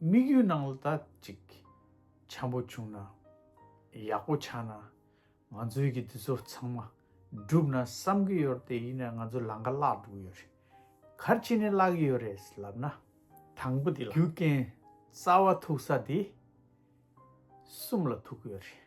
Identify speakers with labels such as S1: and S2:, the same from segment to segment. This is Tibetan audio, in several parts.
S1: དམིགས་ཡུལ་ནང་ལ་དག་ཅིག་འཁྱམས་པོ་བྱུང་ན། ཡག་པོ་ཆགས་ན། ང་ཚོའི་གི་འདི་ཚོ་ཚང་མ་འགྲུབ་ན་བསམ་གི་ཡོད་རེད་ཡིན་ནའི་ང་ཚོ་ལང་ཀ་བརླག་འགྲོ་གི་ཡོད་རེད། གར་ཅི་ནས་བརླག་གི་ཡོད་རེད་ལབ་ན། དང་པོ་དེ་ལ། རྒྱུ་རྐྱེན་རྩ་བ་ཐུག་ས་དེ་གསུམ་ལ་ཐུག་གི་ཡོད་རེད།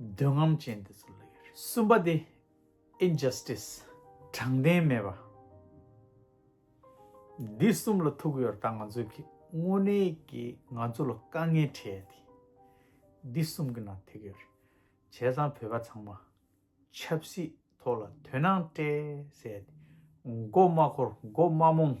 S1: འདོད་རྔམ་ཅན་དེ་ཚོ་ལ་ཡོད་རེད། གསུམ་པ་དེ། Injustice། དྲང་བདེན་མེད་པ། འདི་གསུམ་ལ་ཐུག་ཡོད་ད་ང་ཚོས་ཀྱི་དངོས་གནས་ཀྱི་ང་ཚོ་ལ་དཀའ་ངལ་འཕྲད་ཡ་དེ་འདི་གསུམ་གྱི་ནང་ཐེག་ཡོད་རེད། བྱས་ཙང་བོད་པ་ཚང་མ་ཆབ་སྲིད་ཐོག་ལ་དོན་སྣང་སྤྲད་ཟེར་ཡ་དེ་མགོ་མ་འཁོར་མགོ་མ་རྨོངས།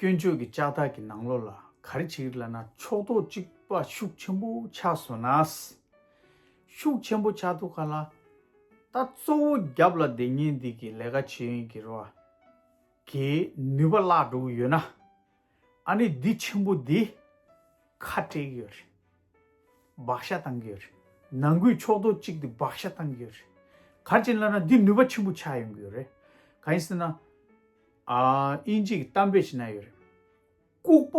S1: སྐྱོན་བརྗོད་ཀྱི་ལྕགས་ཐག་གི་ནང་ལོགས་ལ་ག་རེ་བྱེད་ཀྱི་ལ་ན་ཕྱོགས་གཏོགས་གཅིག་པ་ཤུགས་ཆེན་པོ་ཆགས་སོང་ན། ཤུགས་ཆེན་པོ་ཆགས་འདུག་ག་ལ། ད་གཙོ་བོ་རྒྱབ་ལ་འདི་ཉིན་འདི་གི་ལས་ཀ་བྱེད་ཡོན་གྱི་རོ་གའི་ནུས་པ་བརླགས་འགྲོ་གི་ཡོད་ན། ཨ་ནི་འདི་ཆེན་པོ་འདི་ཁ་བྲལ་གི་ཡོད་རེད། བག་ཤ་བཏང་གི་ཡོད་རེད། ནང་ཁུལ་ཕྱོགས་གཏོགས་གཅིག་འདི་བག་ཤ་བཏང་གི་ཡོད་རེད། ག་རེ་བྱེད་ལ་ན་འདི་ནུས་པ་ཆེན་པོ་ཆགས་ཡོང་གི་ཡོད་རེད། ག་ཡིན་ཟེར་ན། ཨིན་ཇིག་གཏམ་དཔེ་ཞིག་ན་ཡོད་རེད། ལྐུག་པ་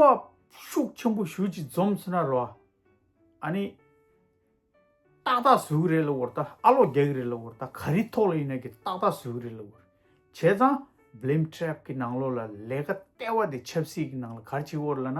S1: ཤུགས་ཆེན་པོ་ཞུ་ཅིག་འཛོམས་སོ་ན་རོ། ཨ་ནི། ཏག་ཏག་ཟོས་གི་རེད་ལ་བོར་ད་ཨ་ལོག་རྒྱག་གི་རེད་ལ་བོར་ད་ག་རི་ཐོག་ལ་ཡིན་ན་གི་ཏག་ཏག་ཟོས་གི་རེད་ལ་བོར། བྱས་ཙང Blame Trap གི་ནང་ལོགས་ལ་ལས་ཀ་སྟེར་བ་དེ་ཆབ་སྲིད་ཀྱི་ནང་ལ་གར་བྱེད་བོར་ལ་ན།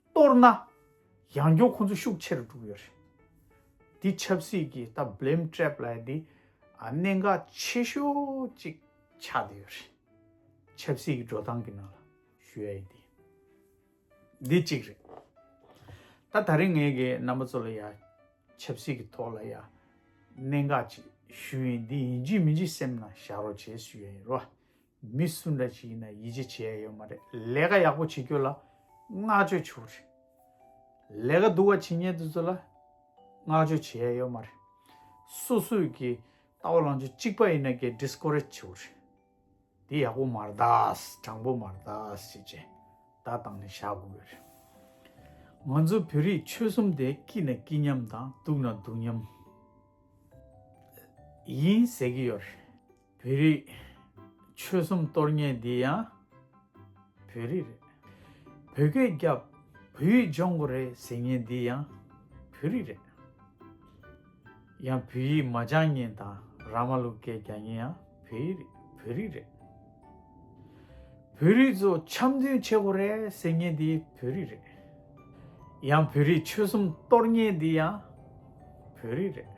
S1: གཏོར་ན། ཡང་སྐྱོང་ཁོང་ཚོ་ཤུགས་ཆེ་རུ་འགྲོ་གི་ཡོད་རེད། འདི་ཆབ་སྲིད་ཀྱི་ད Blame Trap ལ་འདི་གནད་འགག་ཆེ་ཤོས་གཅིག་ཆགས་བསྡད་ཡོད་རེད། ཆབ་སྲིད་ཀྱི་འགྲོ་སྟངས་ཀྱི་ནང་ལ་ཞུ་ཡ་ཡིན་དེ་ཡིན། འདི་གཅིག་རེད། ད་ད་རིང་ངེད་ཀྱི་རྣམ་པ་ཚོ་ལ་ཡ་ཆབ་སྲིད་ཀྱི་ཐོག་ལ་ཡ་གནད་འགག་ཅིག་ཞུ་ཡིན་འདི་ཡིན་ཅིག་མིན་ཅིག་སེམས་ན་བཞག་རོགས་བྱེད་ཞུ་ཡ་ཡིན་རོ། མི་སུ་འདྲ་ཞིག་ཡིན་ན་ཡིད་ཆེས་བྱེད་ཡ་ཡོད་མ་རེད་ལས་ཀ་ཡག་པོ་བྱེད་རྒྱུ་ལ་བསྔགས་བརྗོད་བྱུག་རེད། ལས་ཀ་སྡུག་བ་བྱེད་ཉེན་དེ་ཚོ་ལ་བསྔགས་བརྗོད་བྱེད་ཡ་ཡོད་མ་རེད། སོ་སོས་ཀྱི་ལྟ་བ་ལང་ཆོ་གཅིག་པ་ཡིན་ན་ཀྱི Discourage བྱུག་རེད། དེ་ཡག་པོ་མ་རེད་དྲང་པོ་མ་རེད་ཅེས་བྱས་བརྡ་བཏང་ནས་བཞག་དགོས་ཀྱི་རེད། ང་ཚོ་བོད་རིགས་ཆོལ་གསུམ་དེ་སྐྱིད་ན་སྐྱིད་མཉམ་དང་སྡུག་ན་སྡུག་མཉམ་ཡིན་ཟེར་གྱི་ཡོད་རེད། བོད་རིགས། ཆོལ་གསུམ་གཏོར་ངན་འདི་ཡང། བོད་རིགས་རེད། བོད་སྐད་རྒྱབ། བོད་ཡིག་སྦྱོང་གོ་རེད་ཟེར་ངན་འདི་ཡང། བོད་རིགས་རེད། ཡང་བོད་ཡིག་མ་སྦྱང་ངན་དང་ར་མ་ལུག་སྐད་རྒྱག་ངན་ཡང་བོད་ཡིག་རེད་བོད་རིགས་རེད། བོད་རིགས་ཚོ་འཆམ་མཐུན་བྱེད་གོ་རེད་ཟེར་ངན་འདི་བོད་རིགས་རེད། ཡང་བོད་རིགས་ཆོལ་གསུམ་གཏོར་ངན་འདི་ཡང། བོད་རིགས་རེད།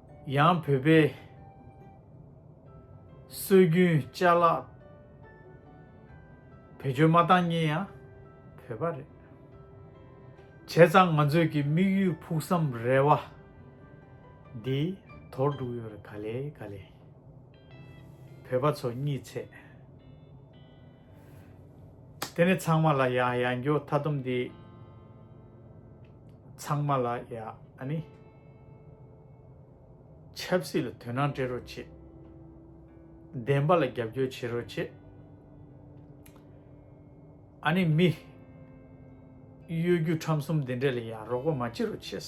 S1: ཡང་བོད་པའི་སྲོལ་རྒྱུན་བཅའ་ལག་བེད་སྤྱོད་མ་བཏང་ཉིན་ཡང་བོད་པ་རེད་བྱས་ཙང་ང་ཚོས་ཀྱི་དམིགས་ཡུལ་ཕུགས་བསམ་རེ་བ་འདི་དོར་འགྲུག་ཡོད་རེད་ག་ལེ་ག་ལེ་བོད་པ་ཚོ་གཉིད་ཚད་དེ་ནི་ཚང་མ་ལ་ཡ་ཡ་འགྱོ་ཐ་དུམ་འདི་ཚང་མ་ལ་ཡ་ཨ་ནི། ཆབ་སྲིད་ལ་དོན་སྣང་སྤྲད་རོགས་བྱེད། བདེན་པ་ལ་རྒྱབ་སྐྱོར་བྱེད་རོགས་བྱེད། ཨ་ནེ་མི། གཡོ་སྒྱུ་ཁྲམ་གསུམ་འདི་འདྲས་ལ་ཡང་རོགས་པ་མ་བྱེད་རོགས་བྱེད།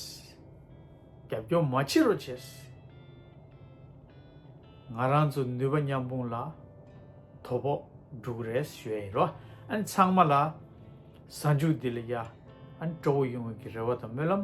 S1: རྒྱབ་སྐྱོར་མ་བྱེད་རོགས་བྱེད། ང་རང་ཚོ་ནུས་པ་མཉམ་སྤུངས་ལ། དོ་ཕོག་སྒྲུག་རེས་ཞུ་ཡ་ཡིན་རོགས་ཨ་ནེ་ཚང་མ་ལ། གཟའ་མཇུག་འདི་ལ་ཡ། ཨ་ནེ་སྤྲོ་བོ་ཡོང་བའི་གི་རེ་བ་དང་སྨོན་ལམ།